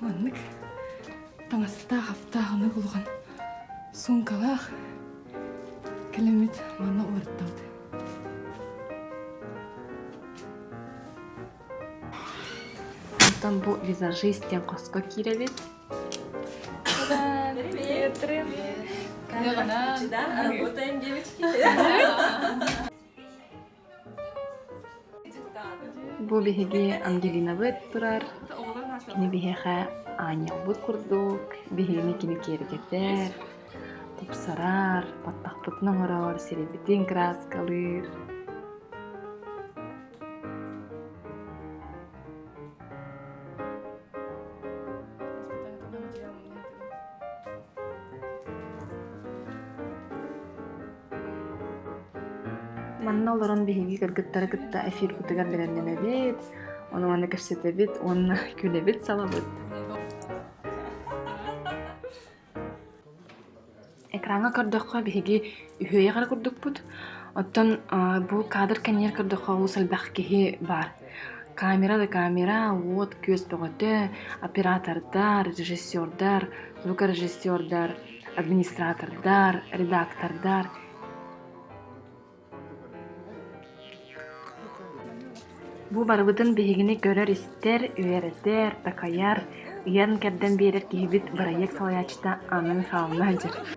Маннык таҥастаах аптаахыны булган суумкалаах кэлэммит манна уларыттабыт. Оттон бу визажист диэн хоско киирэбит. Привет! Привет! Как работаем, девочки? Бу биһиги Ангелинабыт турар. Кини биһиэхэ аанньалбыт курдук, биһигини кини киэргэтэр, тупсарар, баттахпытын оҥорор, сирэйбитин краскалыыр. Манна олорон биһиги кыргыттары кытта эфир кутугар бэлэмнэнэбит, ону манна кэпсэтэбит уонна күлэбит, салабыт. Экраҥҥа көрдөххө биһиги үһүөйэх эрэ курдукпут, оттон бу кадр кэннигэр көрдөххө олус элбэх киһи баар. Камера да камера, вот күөс бөҕөтө, оператордар, режиссердар, звукорежиссердар администратордар, редактордар Бу барыбытын биһигини көрөр-истэр, үөрэтэр, такайар, ыйан-кэрдэн биэрэр киһибит бырайыак салайааччыта Анна Михайловна сылдьар.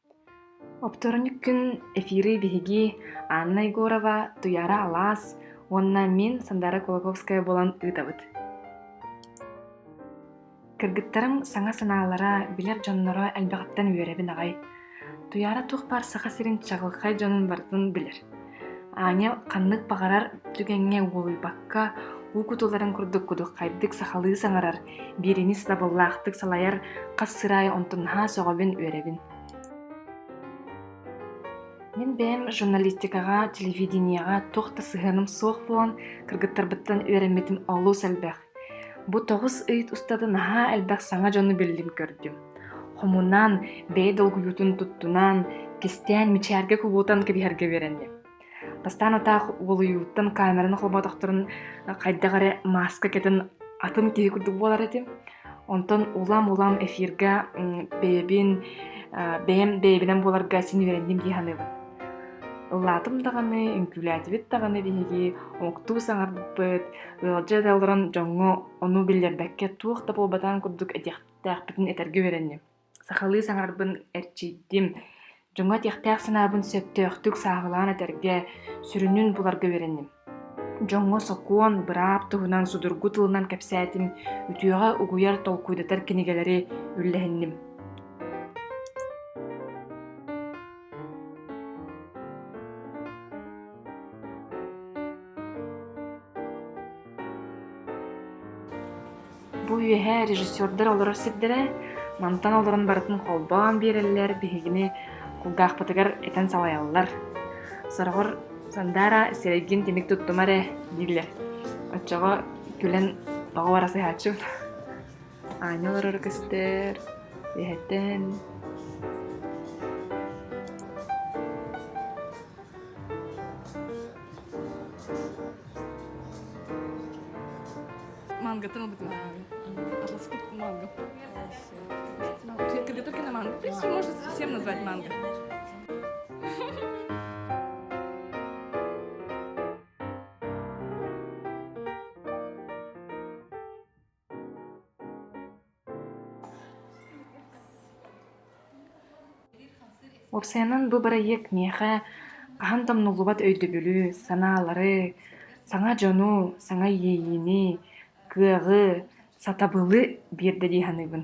Оптуорунньук күн эфиры биһиги Анна Егорова, Туйаара Алаас уонна мин Сандара Кулаковская буолан ыытабыт. Кыргыттарым саҥа санаалара, билэр дьонноро элбэҕиттэн үөрэбин аҕай. Туйаара туох баар Саха сирин чаҕылхай дьонун барытын билэр. Аня ханнык баҕарар түгэҥҥэ уолуйбакка, уу кутуларын курдук кудуххайдык сахалыы саҥарар, биэринис дабыллаахтык салайар хас сыраай онтун наһаа сөҕөбүн, үөрэбин. Мин бэйэм журналистикаҕа, телевидениеҕа туох да сыһыаным суох буолан, кыргыттарбыттан үөрэммитим олус элбэх. Бу тоҕус ыйыт устата наһаа элбэх саҥа дьону биллим көрдүм. Хомунаан, бэйэ долгуйуутун туттунаан, кистээн мичээргэ кубутан кэбиһэргэ үөрэнним. Бастаан атаах уолуйууттан камераны холботохторун хайдах эрэ мааска кэтэн атын киһи курдук буолар этим. Онтон улам-улам эфиргэ бэйэбин бэйэм бэйэбинэн буоларга син үөрэнним дии саныыбын. Ыллаатым даҕаны, үҥкүүлээтибит даҕаны биһиги омуктуу саҥарбыт, ыалдьа да олорон дьоҥҥо ону биллэрбэккэ туох да буолбатаҕын курдук этиэхтээхпитин этэргэ үөрэнним. Сахалыы саҥарарбын эрчийдим. Дьоҥҥо этиэхтээх санаабын сөптөөхтүк сааһылаан этэргэ, сүрүнүн буларга үөрэнним. Дьоҥҥо сокуон, быраап туһунан судургу тылынан кэпсээтим, үтүөҕэ угуйар, толкуйдатар кинигэлэри үллэһинним. Бу үөһээ режиссердар олорор сирдэрэ мантан олорон барытын холбоон биэрэллэр, биһигини кулгаахпытыгар этэн салайаллар. Сороҕор Сандаара сирэйгин тимик туттума эрэ дииллэр. Оччоҕо күлэн тоҕо бара сыһааччыбыт Аня олороро көстөр. Үөһэттэн мангатын ылбытым. Аласпыт манго. Подготовки на манго. В принципе, можно всем назвать манго. Уопсайынан бу бырайыак миэхэ хаһан да умнуллубат өйдөбүлү, санаалары, саҥа дьону, саҥа иэйиини, кыаҕы, сатабылы биэрдэ дии саныыбын.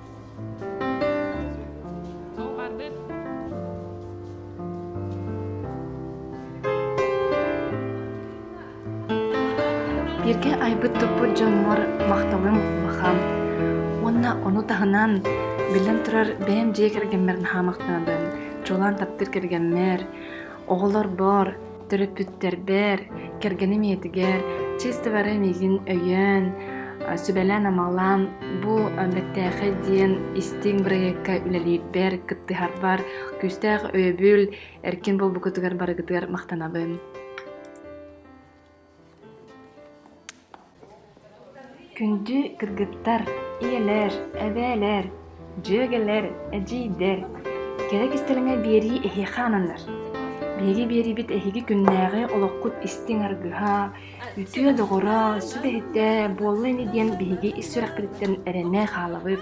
Бирге айбыт туппут дьонмор махталым бахам. Уонна ону таһынан биллэн турар бэйэм дьиэ кэргэммэр хаамахтаабын. Чулаан таптыыр кэргэммэр, оҕолорбор, Төрөппүттэрбэр, кэргэним ийэтигэр чисто бары миигин өйөөн, сүбэлээн-амалаан бу бэртээхэй диэн истиҥ бырайыакка үлэлиирбэр, кыттыһарбар күүстээх өйөбүл, эркин буолбуккутугар барыгытыгар махтанабын. Күндү кыргыттар, ийэлэр, эбээлэр, дьүөгэлэр, эдьиийдэр, кэрэ кистэлэҥэ биэрии эһиэхэ ананар. Биһиги биэриибит эһиги күннээҕи олоххут истиҥ аргыһа, үтүө доҕоро, сүбэһитэ буолла ини диэн биһиги ис сүрэхпититтэн эрэнэ хаалабыт.